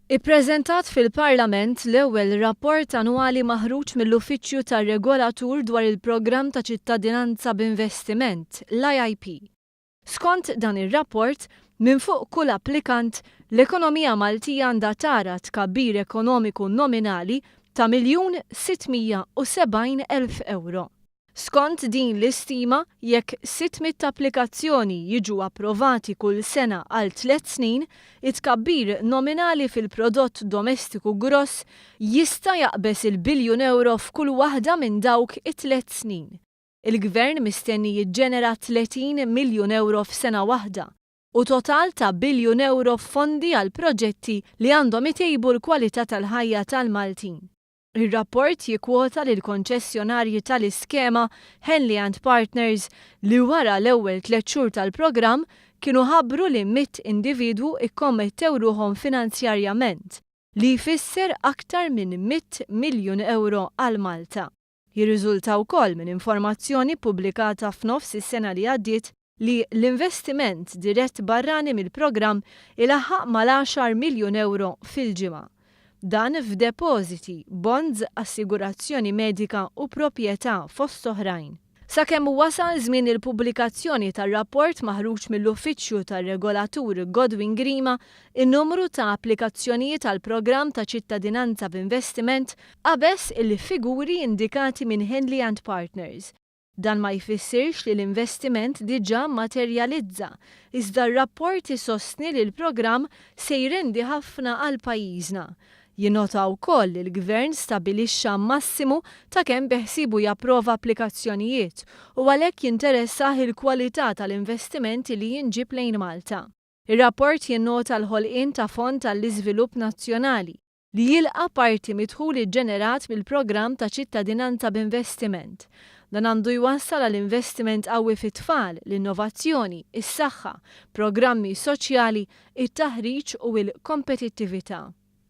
Ippreżentat fil-Parlament l-ewwel rapport annwali maħruġ mill-Uffiċċju tar-Regolatur dwar il-Programm ta' Ċittadinanza b'Investiment, l-IIP. Skont dan ir-rapport, minn fuq kull applikant, l-ekonomija Maltija għandha tara tkabbir ekonomiku nominali ta' miljun 670 elf ewro. Skont din l-istima, jekk 600 applikazzjoni jiġu approvati kull sena għal tliet snin, it-tkabbir nominali fil-prodott domestiku gross jista' jaqbeż il-biljun ewro f'kull waħda minn dawk it-tliet snin. Il-Gvern mistenni jiġġenera 30 miljun ewro f'sena waħda u total ta' biljun ewro f'fondi għal proġetti li għandhom itejbu l-kwalità tal-ħajja tal-Maltin. Ir-rapport jikkwota lill-konċessjonarji tal-iskema Henley and Partners li wara l-ewwel tliet xhur tal-programm kienu ħabbru li mitt individwu kkommettew ruħhom finanzjarjament, li jfisser aktar minn mitt miljun ewro għal Malta. Jirriżulta wkoll minn informazzjoni ppubblikata f'nofs is-sena li għaddiet li l-investiment dirett barrani mill-programm ilaħħaq mal-għaxar miljun ewro fil-ġimgħa. Dan f'depożiti, bonds, assigurazzjoni medika u proprjetà fost oħrajn. Sakemm wasal żmien il-pubblikazzjoni tar-rapport maħruġ mill-Uffiċċju tar-Regolatur Godwin Grima, in-numru ta' applikazzjonijiet għall-programm ta' Ċittadinanza b'Investiment qabeż il-figuri indikati minn Henley and Partners. Dan ma jfissirx li l-investiment diġà mmaterjalizza, iżda r-rapport isostni li l-programm se jrendi ħafna għal pajjiżna. Jinnota wkoll li l-Gvern stabilixxa massimu ta' kemm beħsiebu japprova applikazzjonijiet u għalhekk jinteressah il-kwalità tal-investiment li jinġieb lejn Malta. Ir-rapport jinnota l-ħolqien ta' Fond għall-Iżvilupp Nazzjonali. li jilqa' parti mid-dħul iġġenerat mill-programm ta' Ċittadinanza b'Investiment. Dan għandu jwassal għal investiment qawwi fit-tfal, l-innovazzjoni, is-saħħa, programmi soċjali, it-taħriġ u l-kompetittività.